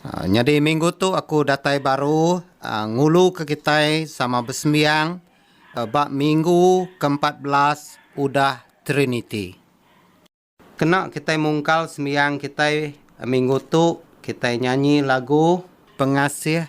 Nyadi minggu tu aku datai baru nguluka kitai sama besembiang ba minggu keempat belas udah Triniti. Kena kitai mungkal sembiang kitai minggu tu, kitai nyanyi lagu. Pengasih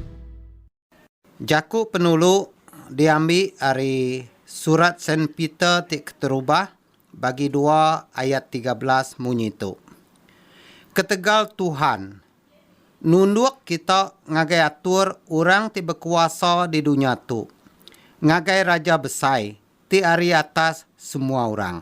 Jaku penulu diambi ari Surat Saint Peter ti keterubah bagi dua ayat tiga belas munyi tu, Ketegal Tuhan nunduk kita ngagai atur orang ti bekuasa di dunya tu, ngagai raja besai ti ari atas semua orang.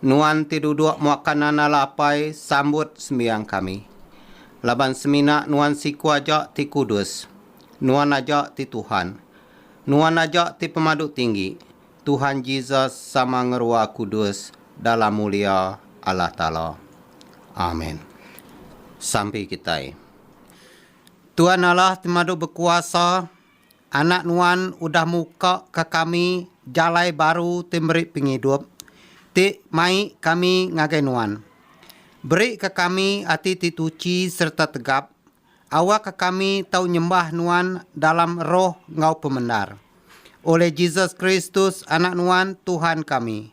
Nuan ti duduk muaka nanda lapai sambut sembiang kami. Laban semina Nuan siku aja ti kudus. Nuan aja ti Tuhan. Nuan aja ti Pemadu Tinggi, Tuhan Jesus sama ngerua kudus dalam mulia Allah Taala. Amen. Sampi kitai. Tuan Allah ti madu bekuasa. Anak nuan udah muka ka kami jalai baru ti meri pengidup, ti mai kami ngagai nuan. Beri ka kami ati ti tuchi sereta tegap, awa ka kami tau nyembah nuan dalam roh enggau pemendar. Oleh Jesus Kristus, Anak nuan, Tuhan kami.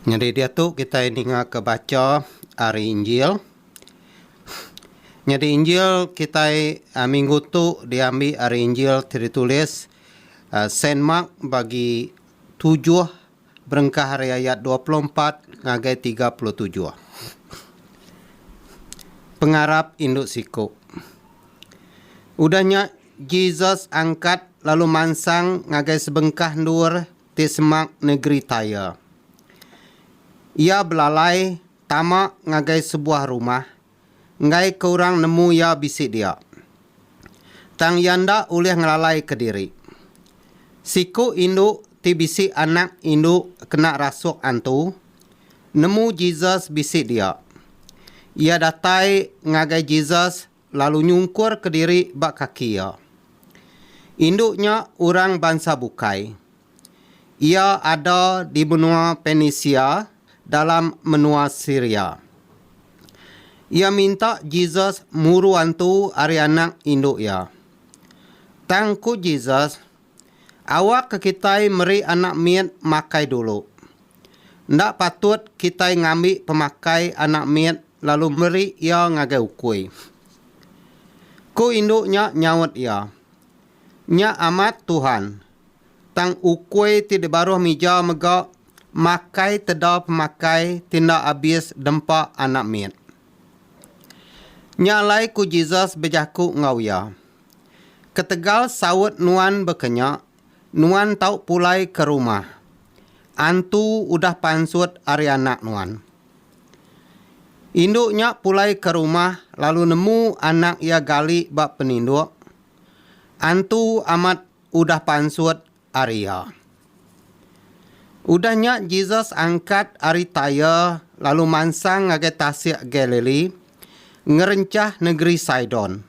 Nyadi diatu kitai ningaka bacha ari Injil. Nyadi Injil kitai minggu tu diambi ari Injil ti ditulis Saint Mark bagi tujuh berengkah ari ayat dua puluh empat ngagai tiga puluh tujuh. Pengarap indu siku. Udah nya Jesus angkat lalu mansang ngagai sebengkah endur. ti semak negeri Tyre. Iya belalai tama ngagai sebuah rumah enggaika orang nemu iya bisi dia. Tang iya enda ulih ngelalaika diri. Siku indu ti bisi anak indu kena rasuk antu nemu Jesus bisi dia. Iya datai ngagai Jesus lalu nyungkur kediri ba kaki iya. Indu nya orang bansa bukai. Iya ada di menua Penisia dalam menua Siria. Iya minta Jesus muru antu ari anak indu iya. Tang ku Jesus, Awakka kitai meri anak mit makai dulu. Enda patut kitai ngambi pemakai anak mit lalu meri iya ngagai ukui. Ku indu nya nyaut iya, Nya amat, Tuhan. Tang ukui ti dibaruh mija mega makai teda pemakai ti enda abis dempa anak mit. Nya alai ku Jesus bejaku enggau iya. Ketegal saut nuan bekenya, nuan tau pulai ke rumah. Antu udah pansut ari anak nuan. Indu nya pulai ke rumah lalu nemu anak iya gali ba peninduk. Antu amat udah pansut ari iya. Udah nya Jesus angkat ari Tyre lalu mansang ngagai tasik Galili ngerenchah nengeri Sidon.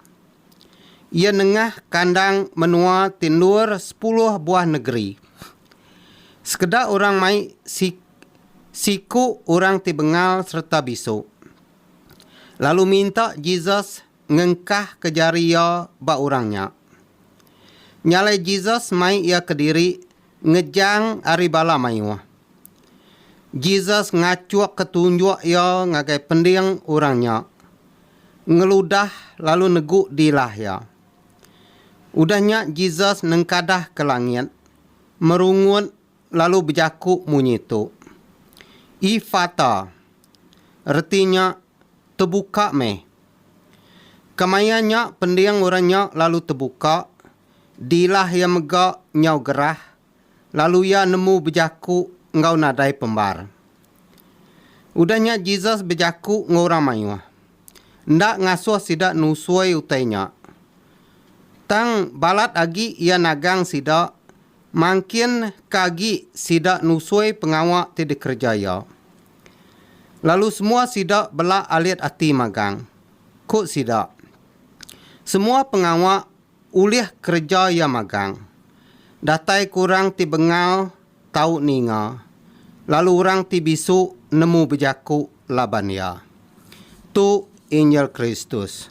Iya nengah kandang menua ti endur sepuluh buah nengeri. Sekeda orang mai si siku orang ti bengal sereta bisu, lalu minta Jesus ngengkahka jari iya ba orang nya. Nya alai Jesus mai iya kediri ngejang ari bala mayuh. Jesus ngachukka tunjuk iya ngagai pending orang nya, ngeludah lalu negu dilah iya. Udah nya Jesus nengkadah ke langit, merungut lalu bejaku munyi tu, Efata, reti nya tebuka meh. Kemaya nya pending orang nya lalu tebuka, dilah iya mega nyau gerah lalu iya nemu bejaku enggau nadai pembar. Udah nya Jesus bejaku enggau orang mayuh. Enda ngasuh sida nusui utai nya. Tang balat agi iya nagang sida Mangkin ka agi sida nusui pengawa ti dikereja iya. Lalu semua sida bela alit ati magang. Ku sida, Semua pengawa ulih kereja iya magang. Datai ke orang ti bengal tau ninga, lalu orang ti bisu nemu bejaku laban iya. Tu Injil Kristus.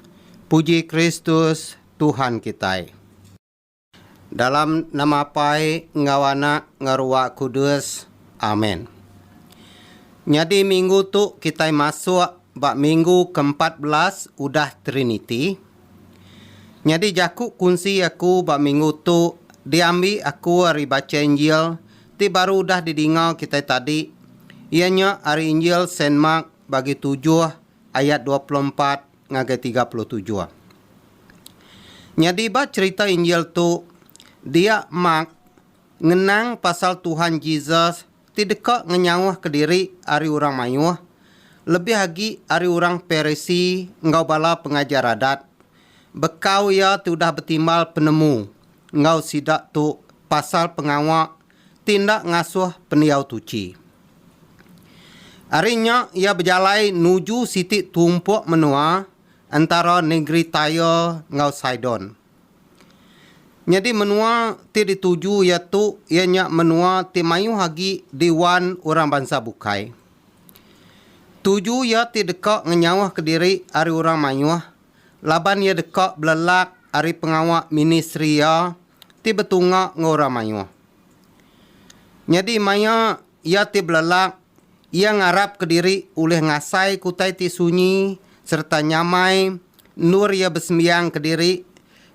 Puji Kristus, Tuhan kitai. Dalam nama Apai enggau Anak enggau Ruah Kudus. Amen. Nyadi minggu tu kitai masuk ba minggu ke empat belas udah Triniti. Nyadi jaku kunsi aku ba minggu tu diambi aku ari bacha Injil ti baru udah didinga kitai tadi iya nya ari Injil Saint Mark bagi tujuh ayat dua puluh empat ngagai tiga puluh tujuh. Nyadi ba cherita Injil tu, dia Mark ngenang pasal Tuhan Jesus ti deka ngenyauhka diri ari orang mayuh, lebih agi ari orang Parisi enggau bala pengajar Adat, bekau iya ti udah betimbal penemu enggau sida tu pasal pengawa ti enda ngasuh pendiau tuchi. Ari nya iya bejalai nuju siti tumpuk menua entara nengeri Tyre enggau Sidon. Nyadi menua ti dituju iya tu iya nya menua ti mayuh agi diwan orang bansa bukai. Tuju iya ti deka ngenyauhka diri ari orang mayuh laban iya deka belelak ari pengawa ministri iya ti betunga enggau orang mayuh. Nyadi maya iya ti belelak, iya ngarapka diri ulih ngasaika utai ti sunyi sereta nyamai endur iya besembiang kediri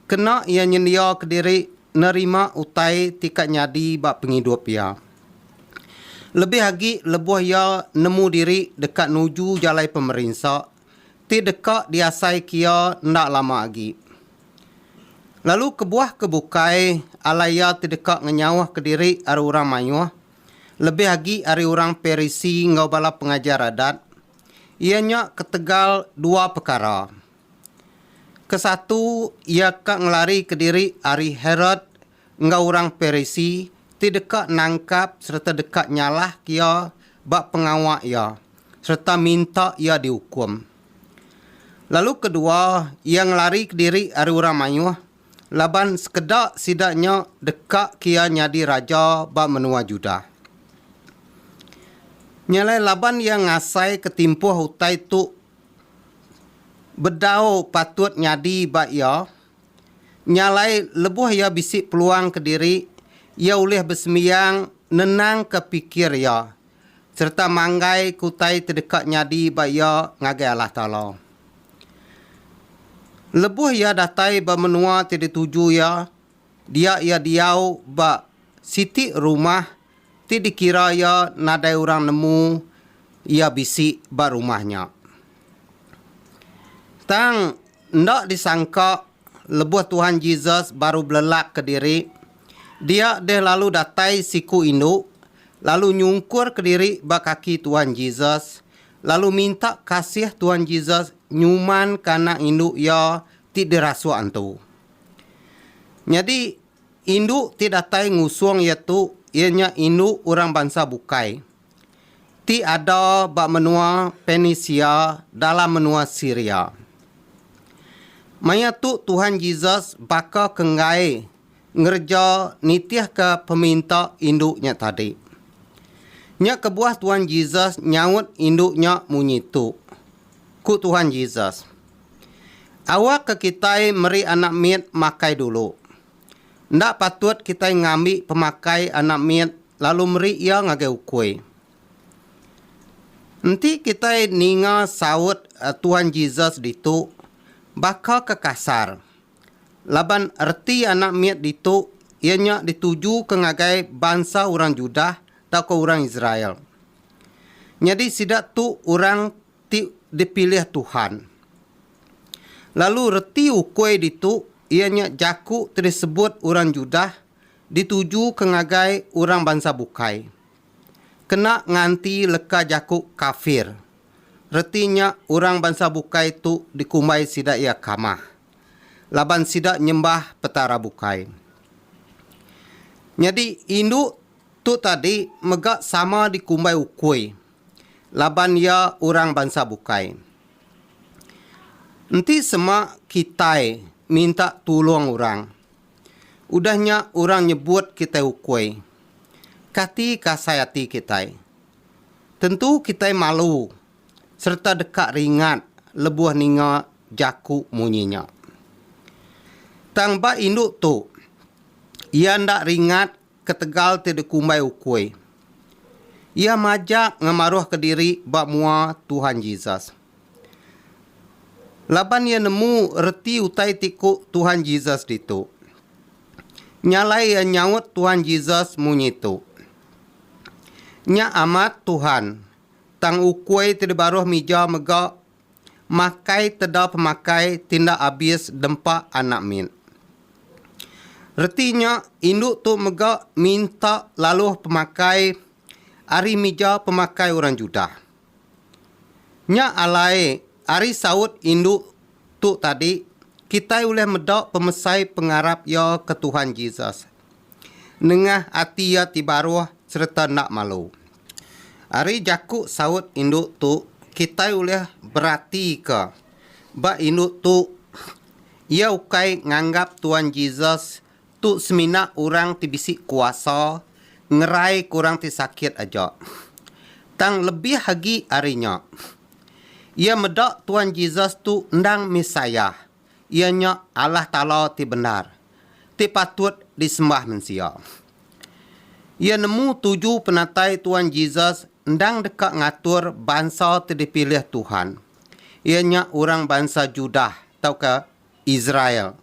kena iya nyendiaka diri nerima utai ti ka nyadi ba pengidup iya. Lebih agi lebuh iya nemu diri deka nuju jalai pemerinsa ti deka diasai kia enda lama agi. Lalu kebuah ke bukai alai iya ti deka ngenyauhka diri ari orang mayuh, lebih agi ari orang Parisi enggau bala pengajar Adat, iya nya ketegal dua pekara. Ke satu, iya ka ngelarika diri ari Herod enggau orang Parisi ti deka nangkap sereta deka nyalahka iya ba pengawa iya sereta minta iya diukum. Lalu kedua, iya ngelarika diri ari orang mayuh laban sekeda sida nya dekaka iya nyadi raja ba menua Judah. Nya alai laban iya ngasaika timpuh utai tu bedau patut nyadi ba iya, Nya alai, lebuh iya bisi peluang kediri, iya ulih besembiang nenangka pikir iya sereta manggaika utai ti deka nyadi ba iya ngagai Allah Taala. Lebuh iya datai ba menua ti dituju iya, dia iya diau ba siti rumah ti dikira iya nadai orang nemu iya bisi ba rumah nya. Tang enda disangka lebuh Tuhan Jesus baru belelak kediri, dia deh lalu datai siku indu lalu nyungkur kediri ba kaki Tuhan Jesus lalu minta kasih Tuhan Jesus nyumanka anak indu iya ti dirasuk antu. Nyadi Indu ti datai ngusung iya tu iya nya indu orang bansa bukai ti ada ba menua Penisia dalam menua Siria. Maya tu Tuhan Jesus baka ke enggai ngereja nitihka peminta indu nya tadi. Nya kebuah Tuhan Jesus nyaut indu nya munyi tu, Ku Tuhan Jesus, Awak ke kitai meri anak mit makai dulu. Enda patut kitai ngambi pemakai anak mit lalu meri iya ngagai ukui. Enti kitai ninga saut Tuan Jesus ditu, baka ke kasar. Laban reti anak mit ditu iya nya ditujuka ngagai bansa orang Judah tauka orang Israel. Nyadi sida tu orang ti dipilih Tuhan. Lalu reti ukui ditu iya nya jaku ti disebut orang Judah ditujuka ngagai orang bansa bukai. Kena nganti leka jaku kafir, reti nya orang bansa bukai tu dikumbai sida iya kamah, laban sida nyembah petara bukai. Nyadi indu tu tadi mega sama dikumbai ukui. laban iya orang bansa bukai. Enti sema kitai minta tulung orang, udah nya orang nyebut kitai ukui, kati ke asai ati kitai? Tentu kitai malu sereta deka ringat lebuh ninga jaku munyi nya. Tang ba indu tu, iya enda ringat ketegal ti dikumbai ukui. Iya majak ngemaruhka diri ba mua Tuhan Jesus. Laban iya nemu reti utai ti ku Tuhan Jesus ditu. Nya alai iya nyaut Tuhan Jesus munyi tu, Nya amat, Tuhan, tang ukui ti dibaruh mija mega Makai teda pemakai tinda abis dempa anak mit. Reti nya indu tu mega minta laluh pemakai ari mija pemakai orang Judah. Nya alai ari saut indu tu tadi kitai ulih meda pemesai pengarap iya ke Tuhan Jesus nengah ati iya ti baruh sereta enda malu. Ari jaku saut indu tu kitai ulih beratika ba indu tu iya ukai nganggap Tuan Jesus tu semina orang ti bisi kuasa ngeraika orang ti sakit aja. Tang lebih agi ari nya, iya meda Tuan Jesus tu endang Messiah. Iya nya Allah Taala ti bendar, ti patut disembah mensia. Iya nemu tuju penatai Tuan Jesus endang deka ngatur bansa ti dipilih Tuhan, iya nya orang bansa Judah tauka Israel.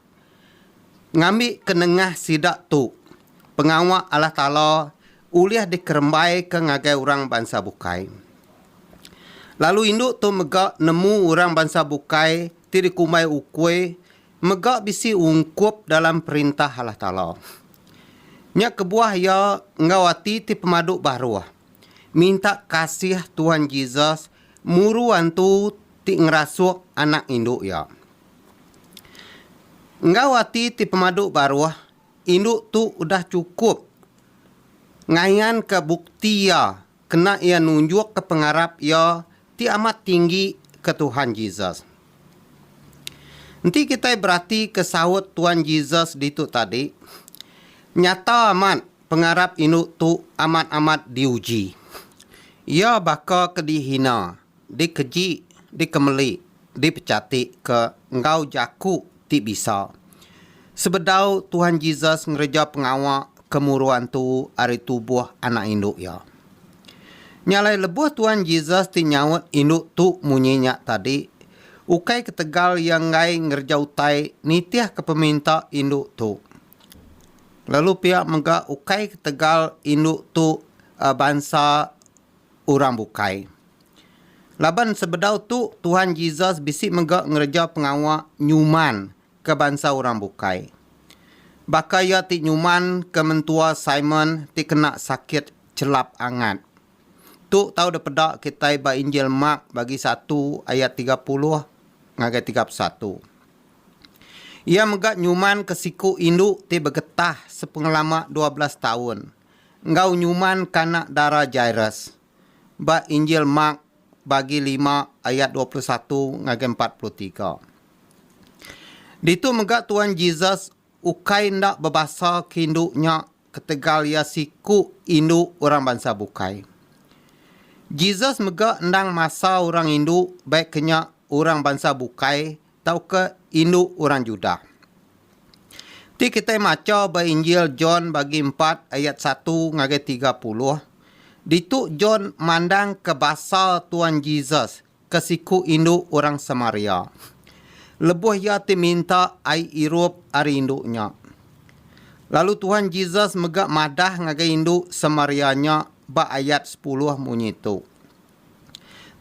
Ngambika nengah sida tu, pengawa Allah Taala ulih dikerembaika ngagai orang bansa bukai. Lalu indu tu mega nemu orang bansa bukai ti dikumbai ukui mega bisi ungkup dalam Perintah Allah Taala. Nya kebuah iya enggau ati ti pemadu baruh, minta kasih Tuhan Jesus muru antu ti ngerasuk anak indu iya. Enggau ati ti pemadu baruh, Indu tu udah chukup ngayanka bukti iya kena iya nunjukka pengarap iya ti amat tinggi ke Tuhan Jesus. Enti kitai beratika saut Tuan Jesus ditu tadi, nyata amat pengarap indu tu amat-amat diuji. Iya baka ke dihina, dikeji, dikemeli dipechatika enggau jaku ti bisa. Sebedau Tuhan Jesus ngereja pengawa ke muru antu ari tubuh anak indu iya. Nya alai lebuh Tuhan Jesus ti nyaut indu tu munyi nya tadi, ukai ketegal iya enggai ngereja utai nitihka peminta indu tu. Lalu pia mega ukai ketegal indu tu bansa orang bukai. Laban sebedau tu, Tuhan Jesus bisi mega ngereja pengawa nyuman ke bansa orang bukai. Baka iya ti nyuman ke mentua Simon ti kena sakit chelap angat. Tu tau dipeda kitai ba Injil Mark bagi satu ayat tiga puluh ngagai tiga puluh satu. Iya mega nyuman ke siku indu ti begetah sepengelama dua belas taun. enggau nyuman kanak dara Jairus. Ba Injil Mark bagi lima ayat dua puluh satu ngagai empat puluh tiga. Ditu mega Tuan Jesus ukai enda bebasa ke indu nya ketegal iya siku indu orang bansa bukai. Jesus mega endang masa orang indu baik ke nya orang bansa bukai tauka indu orang Judah. Ti kitai macha ba Injil John bagi empat ayat satu ngagai tiga puluh, ditu John mandangka basa Tuan Jesus ke siku indu orang Samaria. Lebuh iya ti minta ai irup ari indu nya. Lalu Tuhan Jesus mega madah ngagai indu Samaria nya ba ayat sepuluh munyi tu.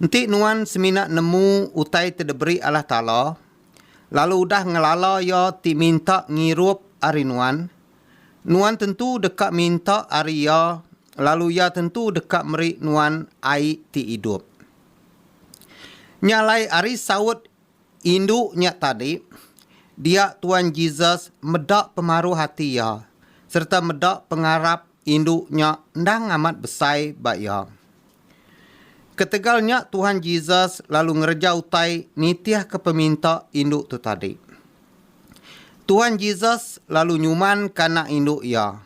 Enti nuan semina nemu utai ti diberi Allah Taala, lalu udah ngelala Iya ti minta ngirup ari nuan, nuan tentu deka minta ari Iya lalu Iya tentu deka meri nuan ai ti idup. Nya alai ari saut Indu nya tadi, dia Tuan Jesus meda pemaruh ati iya sereta meda pengarap indu nya endang amat besai ba iya. Ketegal nya Tuhan Jesus lalu ngereja utai nitihka peminta indu tu tadi. Tuhan Jesus lalu nyumanka anak indu iya,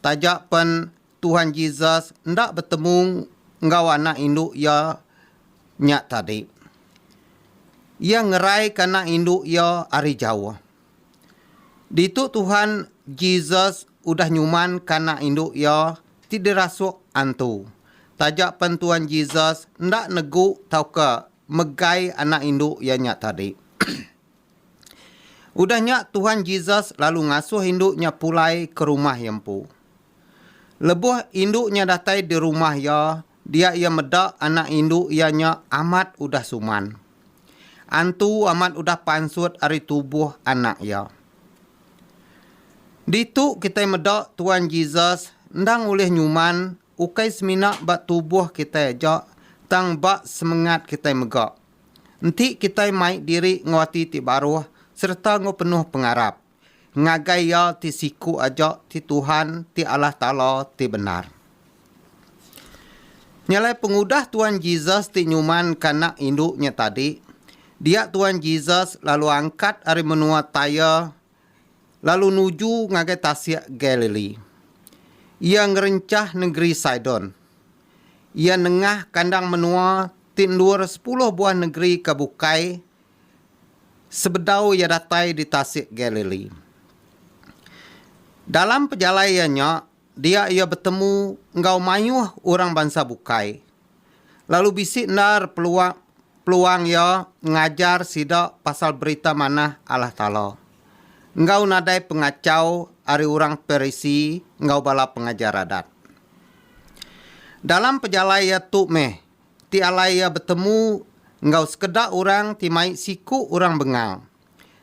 taja pen Tuhan Jesus enda betemu enggau anak indu iya nya tadi. Iya ngeraika anak indu iya ari jauh. Ditu Tuhan Jesus udah nyumanka anak indu iya ti dirasuk antu. Taja pen Tuhan Jesus enda negu tauka megai anak indu iya nya tadi. Udah nya Tuhan Jesus lalu ngasuh indu nya pulai ke rumah iya empu. Lebuh indu nya datai di rumah iya dia iya meda anak indu iya nya amat udah suman. Antu amat udah pansut ari tubuh anak iya. Ditu kitai meda Tuan Jesus endang ulih nyuman ukai semina ba tubuh kitai aja tang ba semengat kitai mega. Enti kitai mai diri enggau ati ti baruh sereta enggau penuh pengarap. ngagai iya ti siku aja ti Tuhan ti Allah Taala ti bendar. Nya alai pengudah Tuan Jesus ti nyumanka anak indu nya tadi, dia Tuan Jesus lalu angkat ari menua Tyre lalu nuju ngagai tasik Galilee. Iya ngerenchah nengeri Sidon. Iya nengah kandang menua ti endur sepuluh buah nengeri ke bukai sebedau iya datai di Tasik Galili. Dalam pejalai iya nya, dia iya betemu enggau mayuh orang bansa bukai, lalu bisi endar peluang peluang iya ngajar sida pasal Berita Manah Allah Taala enggau nadai pengachau ari orang Parisi enggau bala pengajar Adat. Dalam pejalai iya tu meh, ti alai iya betemu enggau sekeda orang ti mai siku orang bengal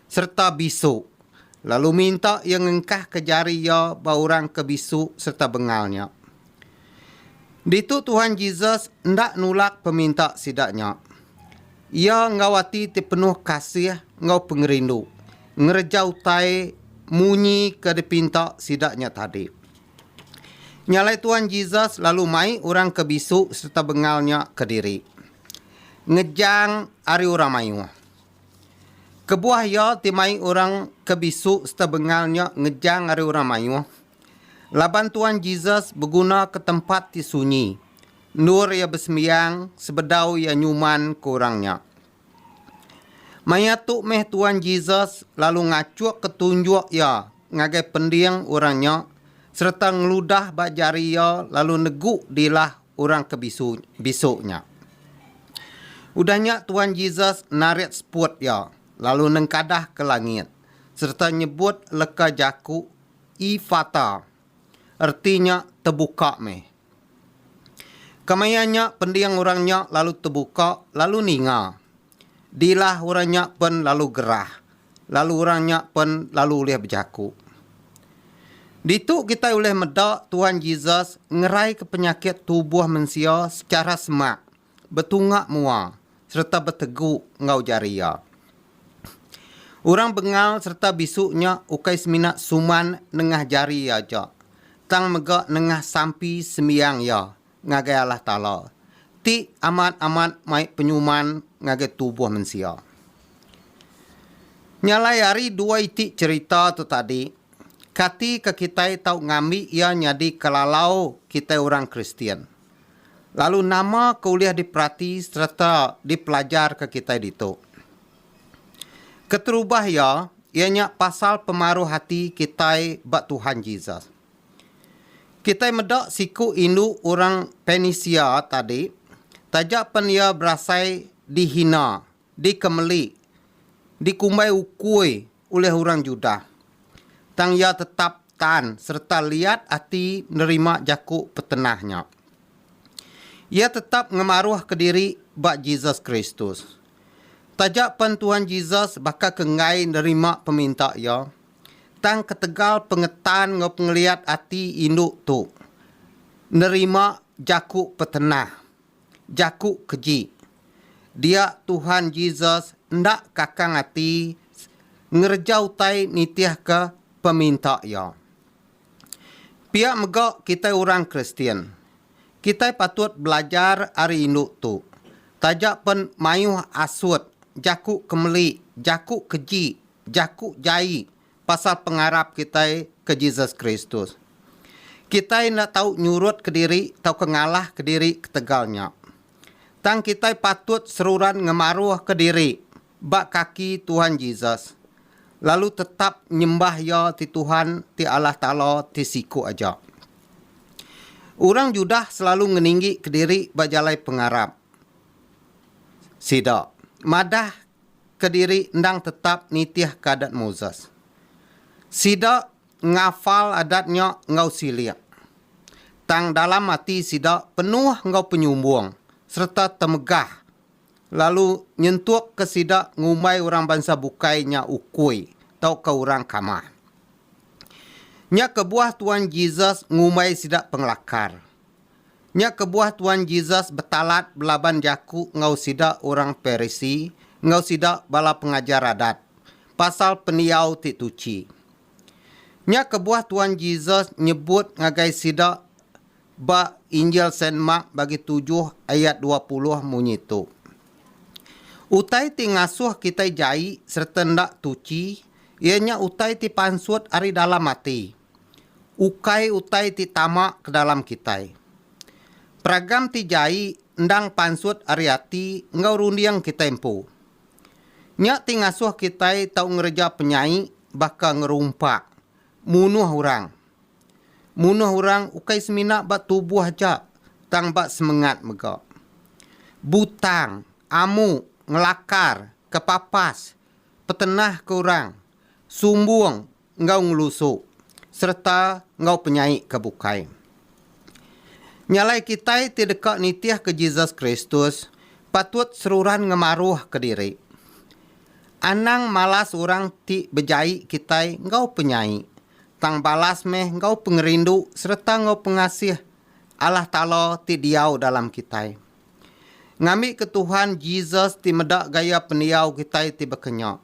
sereta bisu lalu minta iya ngengkahka jari iya ba orang ke bisu sereta bengal nya. Ditu Tuhan Jesus enda nulak peminta sida nya. Iya enggau ati ti penuh kasih enggau pengerindu ngereja utai munyi ke dipinta sida nya tadi. Nya alai Tuan Jesus lalu mai orang ke bisu sereta bengal nya kediri, ngejang ari orang mayuh. Kebuah iya ti mai orang ke bisu sereta bengal nya ngejang ari orang mayuh, laban Tuan Jesus begunaka tempat ti sunyi endur iya besembiang sebedau iya nyumanka orang nya. Maya tu meh Tuan Jesus lalu ngachukka tunjuk iya ngagai pending orang nya sereta ngeludah ba jari iya lalu negu dilah orang ke bisu bisu nya. Udah nya Tuan Jesus narit seput iya lalu nengkadah ke langit sereta nyebut leka jaku Efata, reti nya Tebuka meh. Kemaya nya pending orang nya lalu tebuka lalu ninga. Dilah orang nya pen lalu gerah lalu orang nya pen lalu ulih bejaku. Ditu kitai ulih meda Tuhan Jesus ngeraika penyakit tubuh mensia sechara semak. betunga mua sereta betegu enggau jari iya. Orang bengal sereta bisu nya ukai semina suman nengah jari iya aja, tang mega nengah sampi sembiang iya ngagai Allah Taala, ti amat-amat mai penyuman ngagai tubuh mensia. Nya alai ari dua iti cherita tu tadi, kati ke kitai tau ngambi iya nyadi kelalau kitai orang Kristian? Lalu nama ke ulih diperati sereta dipelajarka kitai ditu? Keterubah iya, iya nya pasal pemaruh ati kitai ba Tuhan Jesus. Kitai meda siku indu orang Penisia tadi, taja pen iya berasai dihina, dikemeli, dikumbai ukui ulih orang Judah, tang iya tetap tan sereta liat ati nerima jaku petenah nya. Iya tetap ngemaruhka diri ba Jesus Kristus. Taja pen Tuhan Jesus baka ke enggai nerima peminta iya, tang ketegal pengetan enggau pengeliat ati indu tu nerima jaku petenah. Jaku keji, dia Tuhan Jesus enda kakang ati ngereja utai nitihka peminta Iya. Pia mega kitai orang Kristian. Kitai patut belajar ari indu tu, taja pen mayuh asut, jaku kemeli, jaku keji, jaku jai, pasal pengarap kitai ke Jesus Kristus. Kitai enda tau nyurut kediri tauka ngalah kediri ketegal nya. Tang kitai patut seruran ngemaruhka diri ba kaki Tuhan Jesus, lalu tetap nyembah Iya ti Tuhan ti Allah Taala ti siku aja. Orang Judah selalu ngeninggika diri ba jalai pengarap sida. Madah kediri endang tetap nitihka Adat Moses. Sida ngafal adat nya enggau silik, tang dalam ati sida penuh enggau penyumbung sereta temegah lalu nyentukka sida ngumbai orang bansa bukai nya ukui tauka orang kamah. Nya kebuah Tuan Jesus ngumbai sida pengelakar. Nya kebuah Tuan Jesus betalat belaban jaku enggau sida orang Parisi enggau sida bala pengajar Adat pasal pendiau ti tuchi. Nya kebuah Tuan Jesus nyebut ngagai sida ba Injil Saint Mark bagi tujuh ayat dua puluh munyi tu, Utai ti ngasuh kitai jai sereta enda tuchi iya nya utai ti pansut ari dalam ati. ukai utai ti tama ke dalam kitai. Peragam ti jai endang pansut ari ati enggau runding kitai empu. Nya ti ngasuh kitai tau ngereja penyai baka ngerumpa, munuh orang. Munuh orang ukai semina ba tubuh aja tang ba semengat mega. Butang, amu, ngelakar, kepapas, petenah ke orang, sumbung, enggau ngelusu sereta enggau penyai ke bukai. Nyalai kitai ti deka nitihka Jesus Kristus patut seruran ngemaruhka diri. Anang malas orang ti bejai kitai enggau penyai, tang balas meh enggau pengerindu sereta enggau pengasih Allah Taala ti diau dalam kitai. Ngambika Tuhan Jesus ti meda gaya pendiau kitai ti baka nya.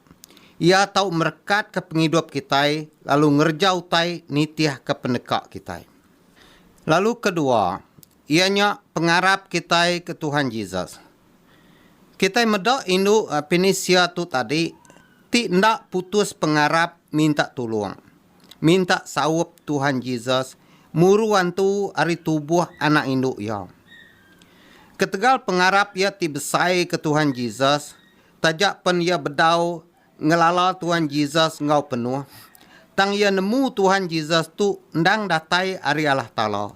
Iya tau merekatka pengidup kitai lalu ngereja utai nitihka peneka kitai. Lalu kedua, iya nya pengarap kitai ke Tuhan Jesus. Kitai meda indu Pinisia tu tadi ti enda putus pengarap minta tulung. Minta saup Tuhan Jesus muru antu ari tubuh anak indu iya. Ketegal pengarap iya ti besai ke Tuhan Jesus, taja pen iya bedau ngelala Tuhan Jesus enggau penuh, tang iya nemu Tuhan Jesus tu endang datai ari Allah Taala,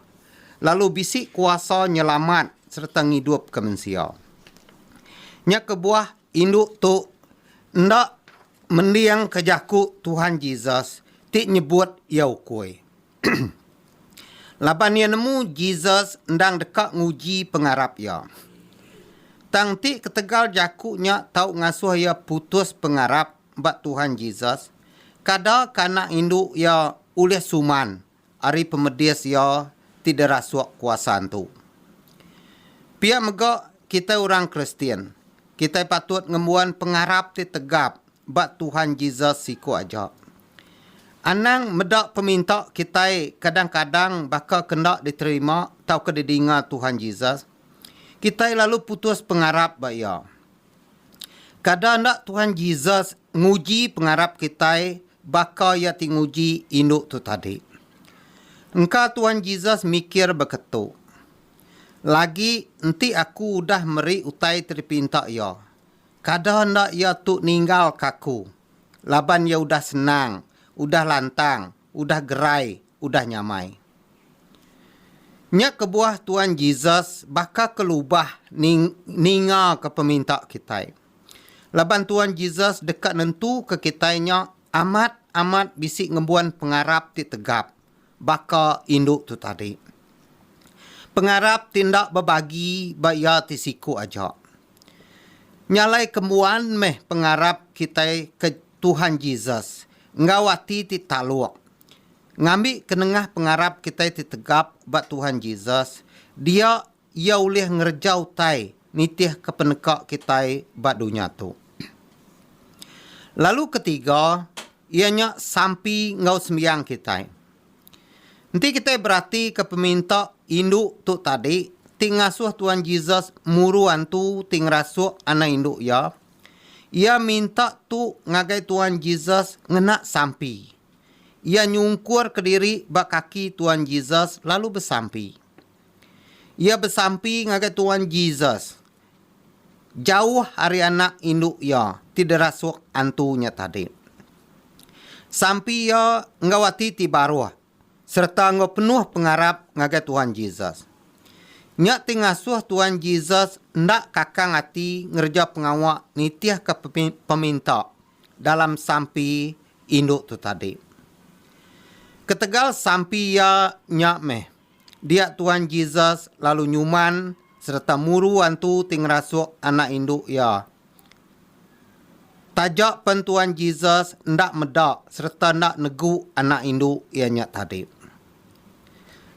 lalu bisi kuasa nyelamat sereta ngidupka mensia. Nya kebuah indu tu enda. Mendingka jaku Tuhan Jesus ti nyebut iya ukui. Laban iya nemu Jesus endang deka nguji pengarap iya. Tang enti ketegal jaku nya tau ngasuh iya putus pengarap ba Tuhan Jesus, kada ka anak indu iya ulih suman ari pemedis iya ti dirasuk kuasa tu. Pia mega kitai orang Kristian, kitai patut ngembuan pengarap ti tegap ba Tuhan Jesus siku aja. Anang meda peminta kitai kadang-kadang baka ke enda diterima tauka didinga Tuhan Jesus, kitai lalu putus pengarap ba iya. Kada enda Tuhan Jesus nguji pengarap kitai baka iya ti nguji indu tu tadi. Engka Tuhan Jesus mikir beketu, Lagi enti aku udah meri utai ti dipinta iya, kada enda iya tu ninggalka aku laban iya udah senang, udah lantang udah gerai udah nyamai. Nya kebuah Tuan Jesus baka kelubah ningaka peminta kitai. Laban Tuan Jesus deka nentuka kitai nya amat amat bisi ngembuan pengarap ti tegap baka indu tu tadi. Pengarap ti enda bebagi ba iya ti siku aja. Nyalai kembuan meh pengarap kitai ke Tuhan Jesus enggau ati ti taluk. Ngambi ke nengah pengarap kitai ti tegap ba Tuhan Jesus, dia Iya ulih ngereja utai nitihka peneka kitai ba dunya tu. Lalu ke tiga, iya nya sampi enggau sembiang kitai. Enti kitai beratika peminta indu tu tadi ti ngasuh Tuhan Jesus muru antu ti ngerasuk anak indu iya, Iya minta tu ngagai Tuan Jesus ngena sampi. Iya nyungkur kediri ba kaki Tuan Jesus lalu besampi. Iya besampi ngagai Tuan Jesus jauh ari anak indu iya ti derasuk antu nya tadi. Sampi iya enggau ati ti baruh sereta enggau penuh pengarap ngagai Tuhan Jesus. Nya ti ngasuh Tuhan Jesus enda kakang ati ngereja pengawa nitihka peminta dalam sampi indu tu tadi. Ketegal sampi iya nya meh, dia Tuhan Jesus lalu nyuman sereta muru antu ti ngerasuk anak indu iya Taja pen Tuan Jesus enda meda sereta enda negu anak indu iya nya tadi.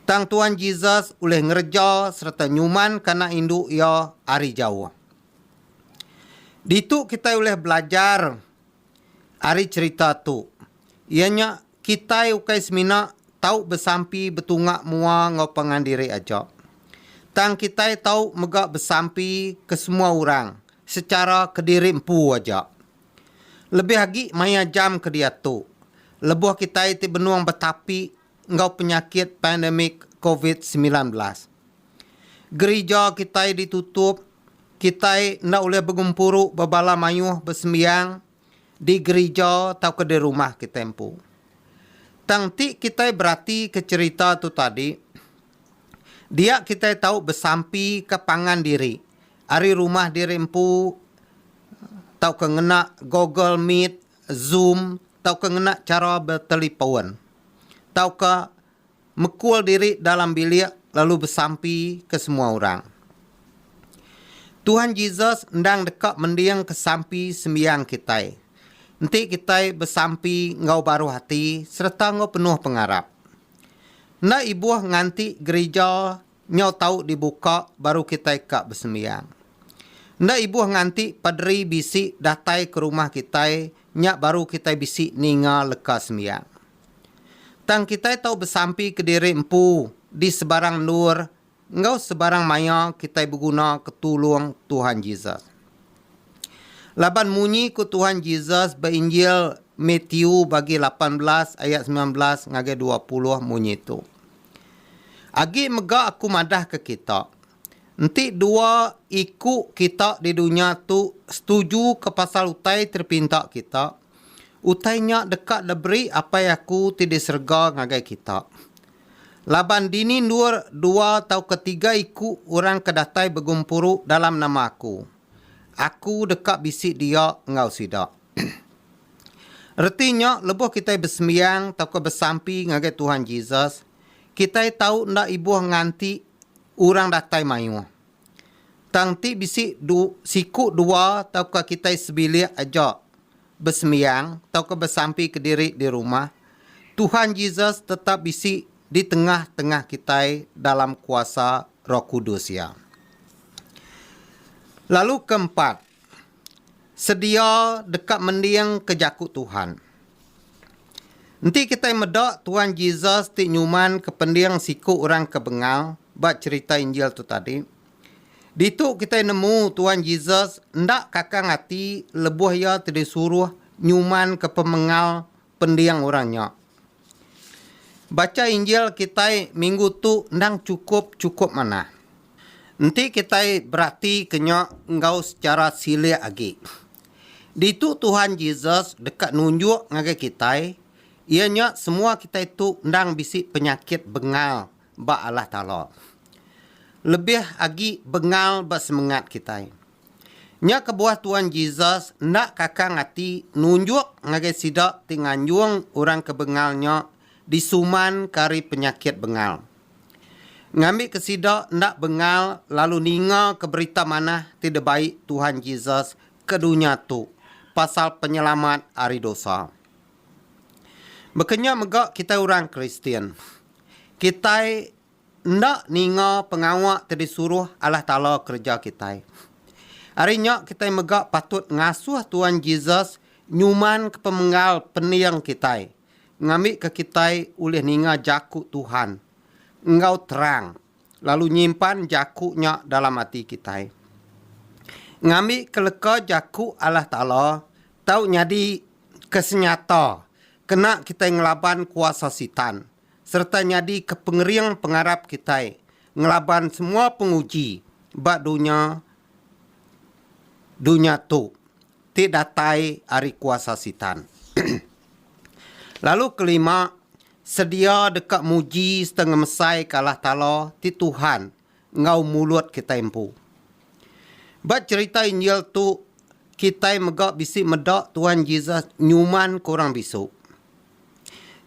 Tang Tuan Jesus ulih ngereja sereta nyumanka anak indu iya ari jauh. Ditu kitai ulih belajar ari cherita tu, iya nya Kitai ukai semina tau besampi betunga mua enggau pangan diri aja, tang kitai tau mega besampi ke semua orang sechara kediri empu aja. Lebih agi maya jam ke diatu, lebuh kitai ti benung betapi enggau penyakit pandemik Covid semilan belas. Gerija kitai ditutup, kitai enda ulih begempuru ba bala mayuh besembiang di gerija tauka di rumah kitai empu. Tang ti kitai beratika cherita tu tadi, dia kitai tau besampika pangan diri ari rumah diri empu tauka ngena Google Meet, Zoom tauka ngena chara betelipon tauka mekul diri dalam bilik lalu besampi ke semua orang. Tuhan Jesus endang deka mending ke sampi sembiang kitai. Enti kitai besampi enggau baruh ati sereta enggau penuh pengarap. Enda ibuh nganti gerija nyau tau dibuka baru kitai ka besembiang. Enda ibuh nganti paderi bisi datai ke rumah kitai nya baru kitai bisi ninga leka sembiang. Tang kitai tau besampi kediri empu di sebarang endur enggau sebarang maya kitai beguna ke tulung Tuhan Jesus. Laban munyi ku Tuhan Jesus ba Injil Matiu bagi lapan belas ayat semilan belas ngagai dua puluh munyi tu, Agi mega aku madahka kita, Enti dua iku kita di dunya tu setujuka pasal utai ti dipinta kita, utai nya deka diberi Apai aku ti di serega ngagai kita. Laban dini endur dua tauka tiga iku orang ke datai begumpuru dalam nama aku, aku deka bisi dia enggau sida. Reti nya lebuh kitai besembiang tauka besampi ngagai Tuhan Jesus, kitai tau enda ibuh nganti orang datai mayuh. Tang ti bisi du, siku dua tauka kitai sebilik aja besembiang tauka besampi kediri di rumah, Tuhan Jesus tetap bisi di tengah-tengah kitai dalam kuasa Roh Kudus Iya. Lalu keempat, sedia deka mendingka jaku Tuhan. Enti kitai meda Tuan Jesus ti nyumanka pending siku orang ke bengal ba cherita Injil tu tadi, ditu kitai nemu Tuan Jesus enda kakang ati lebuh iya tedisuruh nyumanka pemengal pending orang nya. Bacha Injil kitai minggu tu endang chukup chukup manah. Enti kitai beratika nya enggau sechara silik agi. Ditu Tuhan Jesus deka nunjuk ngagai kitai iya nya semua kitai tu endang bisi penyakit bengal ba Allah Taala lebih agi bengal ba semengat kitai. Nya kebuah Tuan Jesus enda kakang ati nunjuk ngagai sida ti nganjung orang ke bengal nya disumanka ari penyakit bengal. Ngambika sida enda bengal lalu ningaka berita manah ti debai Tuhan Jesus ke dunya tu pasal penyelamat ari dosa. Baka nya mega kitai orang Kristian. Kitai enda ninga pengawa ti disuruh Allah Taala kereja kitai. Ari nya kitai mega patut ngasuh Tuan Jesus nyumanka pemenggal pening kitai ngambika kitai ulih ninga jaku Tuhan enggau terang lalu nyimpan jaku nya dalam ati kitai. Ngambika leka jaku Allah Taala tau nyadi ke senyata kena kitai ngelaban kuasa Sitan sereta nyadika pengering pengarap kitai ngelaban semua penguji ba dunya dunya tu ti datai ari kuasa Sitan. Lalu kelima, sedia deka muji sereta ngemesaika Allah Taala ti Tuhan enggau mulut kitai empu. Ba cherita Injil tu, kitai mega bisi meda Tuan Jesus nyumanka orang bisu.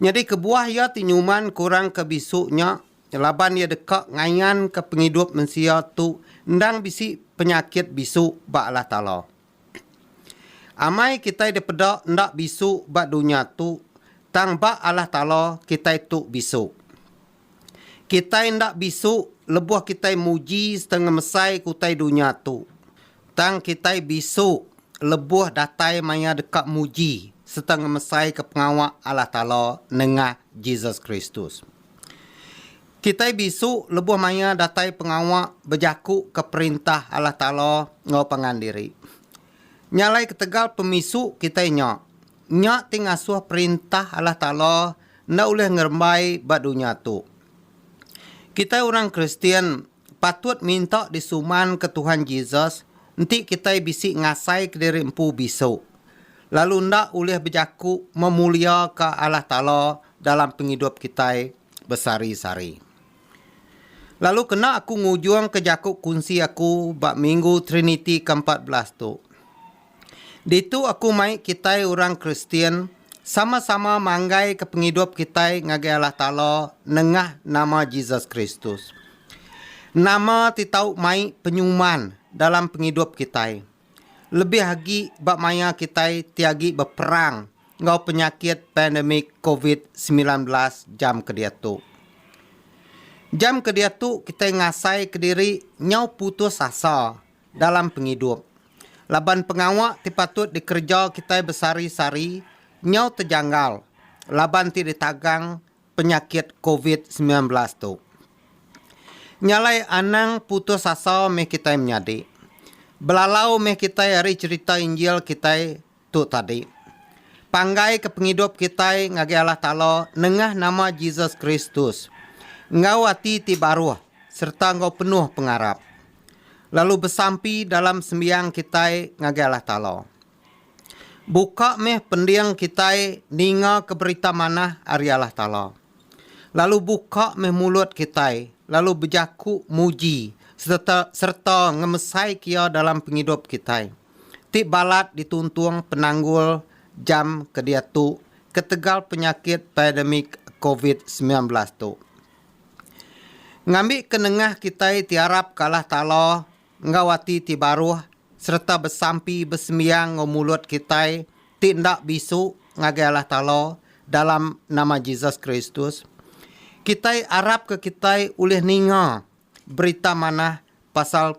Nyadi kebuah iya ti nyumanka orang ke bisu nya laban iya deka ngayanka pengidup mensia tu endang bisi penyakit bisu ba Allah Taala. Amai kitai dipeda enda bisu ba dunya tu, tang ba Allah Taala kitai tu bisu. Kitai enda bisu lebuh kitai muji sereta ngemesai ke utai dunya tu, tang kitai bisu lebuh datai maya deka muji sereta ngemesaika pengawa Allah Taala nengah Jesus Kristus. Kitai bisu lebuh maya datai pengawa bejakuka Perintah Allah Taala enggau pangan diri. Nya alai ketegal pemisu kitai nya. Nya ti ngasuh Perintah Allah Taala enda ulih ngerembai ba dunya tu. Kitai orang Kristian patut minta disumanka Tuhan Jesus enti kitai bisi ngasai kediri empu bisu, lalu enda ulih bejaku memuliaka Allah Taala dalam pengidup kitai besehari-sehari. Lalu kena aku ngujungka jaku kunsi aku ba Minggu Triniti ke empat belas tu. Ditu aku mai kitai orang Kristian sama-sama manggaika pengidup kitai ngagai Allah Taala nengah nama Jesus Kristus. Nama ti tau mai penyuman dalam pengidup kitai, lebih agi ba maya kitai ti agi beperang enggau penyakit pandemik covid semilan belas jam ke diatu? Jam ke diatu kitai ngasai kediri nyau putus asa. dalam pengidup laban pengawa ti patut dikereja kitai besehari-sehari nyau tejanggal laban ti ditagang penyakit covid semilan belas tu. Nya alai anang putus asa meh kitai menyadi. Belalau meh kitai ari cherita Injil kitai Tu tadi. Panggai ke pengidup kitai ngagai Allah Taala nengah nama Jesus Kristus, enggau ati ti baruh sereta enggau penuh pengarap, lalu besampi dalam sembiang kitai ngagai Allah Taala. Buka meh pending kitai ningaka berita manah ari Allah Taala. Lalu buka meh mulut kitai lalu bejaku muji sereta sereta ngemesaika Iya dalam pengidup kitai. ti balat dituntung penanggul jam ke diatu ketegal penyakit pandemik covid semilan belas tu. Ngambika nengah kitai ti arap ke Allah Taala enggau ati ti baruh sereta besampi besembiang enggau mulut kitai ti enda bisu ngagai Allah Taala dalam nama Jesus Kristus, kitai arapka kitai ulih ninga berita manah pasal.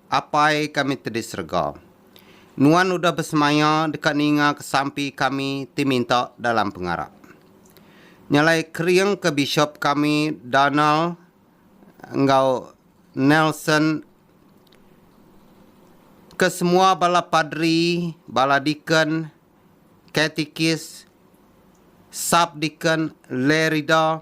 Apai kami ti di serega. Nuan udah besemaya deka ninga ke sampi kami ti minta dalam pengarap. Nyalai kering ke Bishop kami Donald enggau Nelson ke semua bala padri, bala deacon, katikis, sub-deacon, lerida,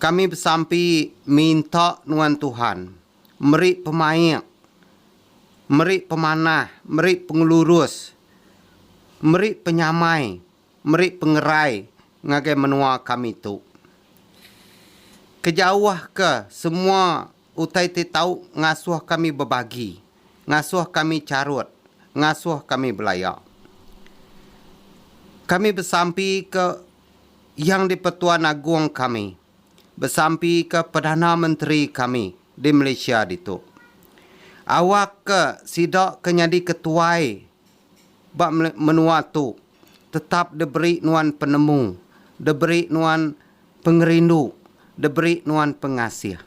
Kami besampi minta nuan Tuhan meri pemaik, meri pemanah, meri pengelurus, meri penyamai, meri pengerai ngagai menua kami tu. Kejauhka semua utai ti tau ngasuh kami bebagi, ngasuh kami charut, ngasuh kami belaya. Kami besampi ke. Yang di-Pertuan Agong kami besampika Perdana Menteri kami di Malaysia ditu. Awak ke sida ke nyadi ketuai ba menua tu tetap diberi nuan penemu, diberi nuan pengerindu, diberi nuan pengasih.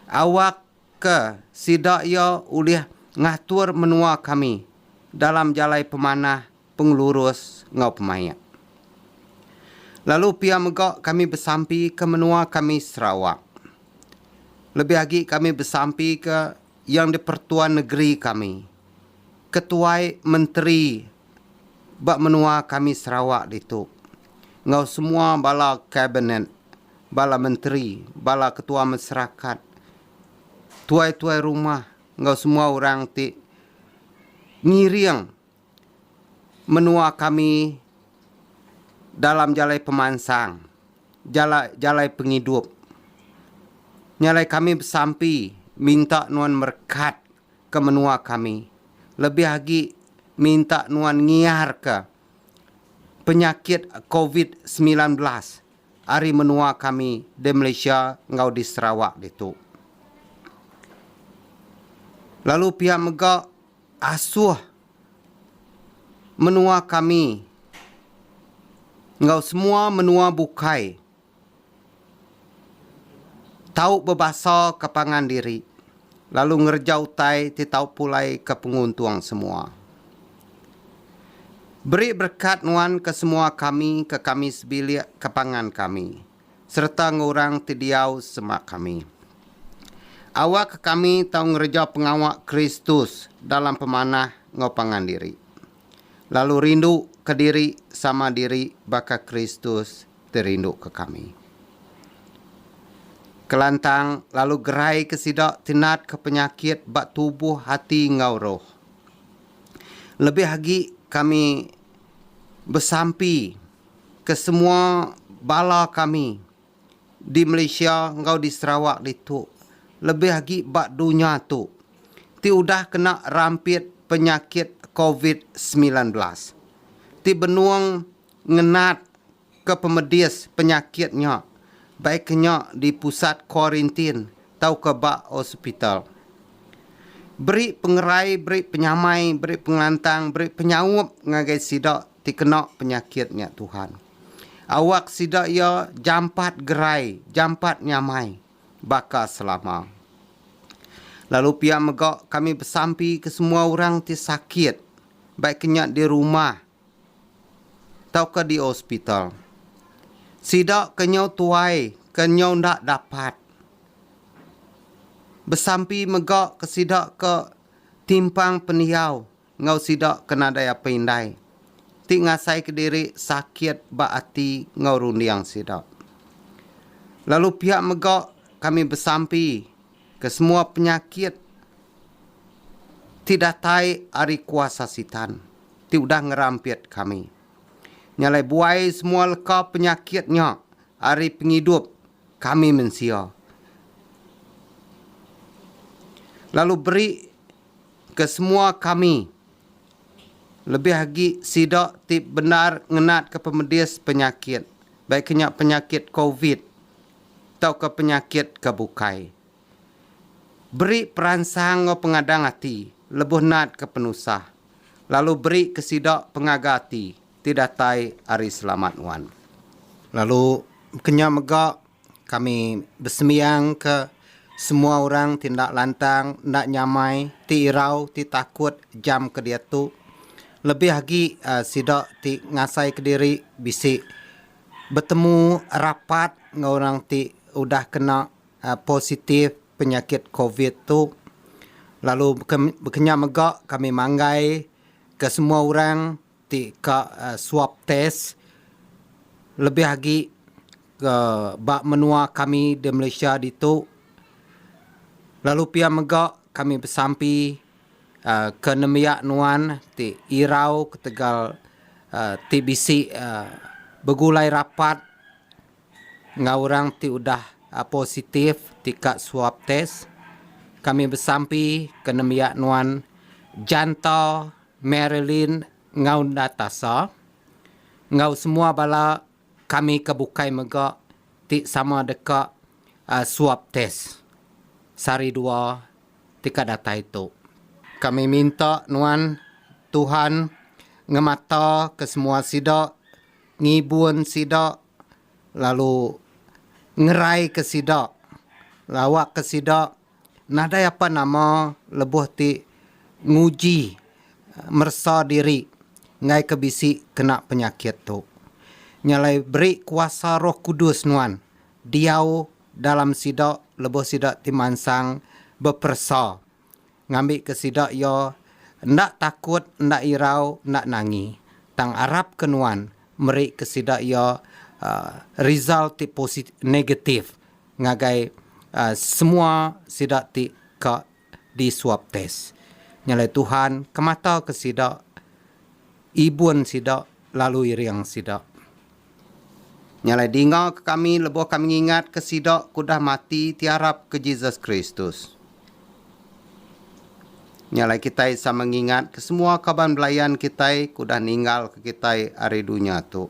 Awak ke sida iya ulih ngatur menua kami dalam jalai pemanah pengelurus enggau pemaik. Lalu pia mega kami besampi ke menua kami Sarawak. Lebih agi kami besampi ke Yang di-Pertua Negeri kami, ketuai menteri ba menua kami Sarawak ditu enggau semua bala kabinet, bala menteri, bala ketua masyarakat, tuai-tuai rumah enggau semua orang ti ngiring Menua kami dalam jalai pemansang, jalai jalai pengidup. Nya alai kami besampi minta nuan merekat ke menua kami lebih agi minta nuan ngiar ke penyakit covid semilan belas ari menua kami di Malaysia enggau di Sarawak ditu. Lalu pia mega Asuh menua kami enggau semua menua bukai tau bebasa ke pangan diri lalu ngereja utai ti tau pulai ke penguntung semua. Beri berkat nuan ke semua kami ke kami sebilik ke pangan kami. sereta enggau orang ti diau sema kami. Awakka kami tau ngereja pengawa Kristus dalam pemanah enggau pangan diri, lalu rinduka diri sama diri baka Kristus ti rinduka kami. Kelantang lalu geraika sida ti natka penyakit ba tubuh, ati enggau roh. Lebih agi kami besampi. Kesemua bala kami di Malaysia enggau di Sarawak ditu, lebih agi ba dunya tu, ti udah kena rampit penyakit covid semilan belas, ti benung ngenat ke pemedis penyakit nya baikka nya di pusat kuarintin tauka ba hospital. Beri pengerai, beri penyamai, beri pengelantang, beri penyaup ngagai sida ti kena penyakit nya Tuhan. Awak sida iya jampat gerai, jampat nyamai baka selama. Lalu pia mega kami besampi ke semua orang ti sakit baik nya di rumah tauka di hospital. Sida ke nyau tuai ke nyau enda dapat besampi mega ke sida ke timpang pendiau. enggau sida ke nadai apai indai ti ngasaika diri sakit ba ati enggau runding sida. Lalu pia mega kami besampi ke semua penyakit ti datai ari kuasa Sitan ti udah ngerampit kami. Nya alai buai semua leka penyakit nya ari pengidup kami mensia lalu beri Kesemua kami, lebih agi sida ti bendar ngenatka pemedis penyakit, baik ke nya penyakit covid tauka penyakit ke bukai, beri peransang enggau pengadang ati lebuh natka penusah, lalu berika sida pengaga ati ti datai ari selamat nuan. Lalu ke nya mega Kami besembiang ke semua orang ti enda lantang, enda nyamai, ti irau, ti takut jam ke diatu. Lebih agi sida ti ngasai kediri bisi betemu rapat enggau orang ti udah kena positif penyakit covid tu. Lalu beken beka nya mega kami manggai ke semua orang. ti ka swab test lebih agi ke ba menua kami di Malaysia ditu lalu pia mega kami besampi aaa ke nembiak nuan ti irau ketegal aaa ti bisi aaa begulai rapat enggau orang ti udah positif ti ka swab test kami besampi ke nembiak nuan jantau Marilyn enggau Natasha, enggau semua bala kami ke bukai mega ti sama deka swab test sehari dua ti ka datai tu. Kami minta nuan Tuhan ngemata ke semua sida, ngibun sida lalu ngerai ke sida, lawa ke sida Nadai apan nama lebuh ti nguji meresa diri enggai ke bisi kena penyakit tu. Nya alai beri kuasa Roh Kudus nuan diau dalam sida lebuh sida ti mansang beperesa ngambika sida iya enda takut enda irau enda nangi tang arap ke nuan meri ke sida iya result ti positif negatif ngagai semua sida ti ka di swab tes. Nyalai Tuhan ke mataka sida, ibun sida lalu iring sida. Nyalai dinga ke kami lebuh kami ngingatka sida ke udah mati ti arap ke Jesus Kristus. Nyalai kitai sama ngingatka semua kaban belayan kitai ke udah ninggalka kitai ari dunya tu.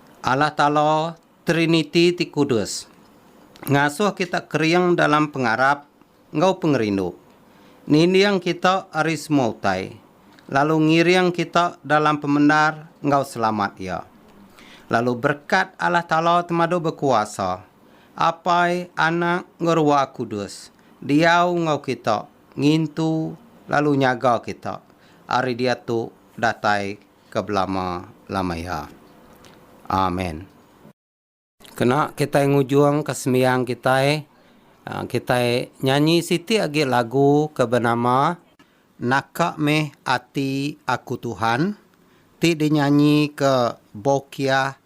Allah Taala, Triniti ti kudus, ngasuh kita kering dalam pengarap enggau pengerindu, ninding kita ari semua utai, lalu ngiring kita dalam pemendar enggau selamat Iya. Lalu berekat Allah Taala Temadu Bekuasa, Apai, Anak, enggau Ruah Kudus, diau enggau kita, ngintu, lalu nyaga kita ari diatu datai ke belama-lama iya. Amen. Kena kitai ngujungka sembiang kitai, kitai nyanyi siti agi lagu ke benama. Naka meh ati aku Tuhan, ti dinyanyika Bokiah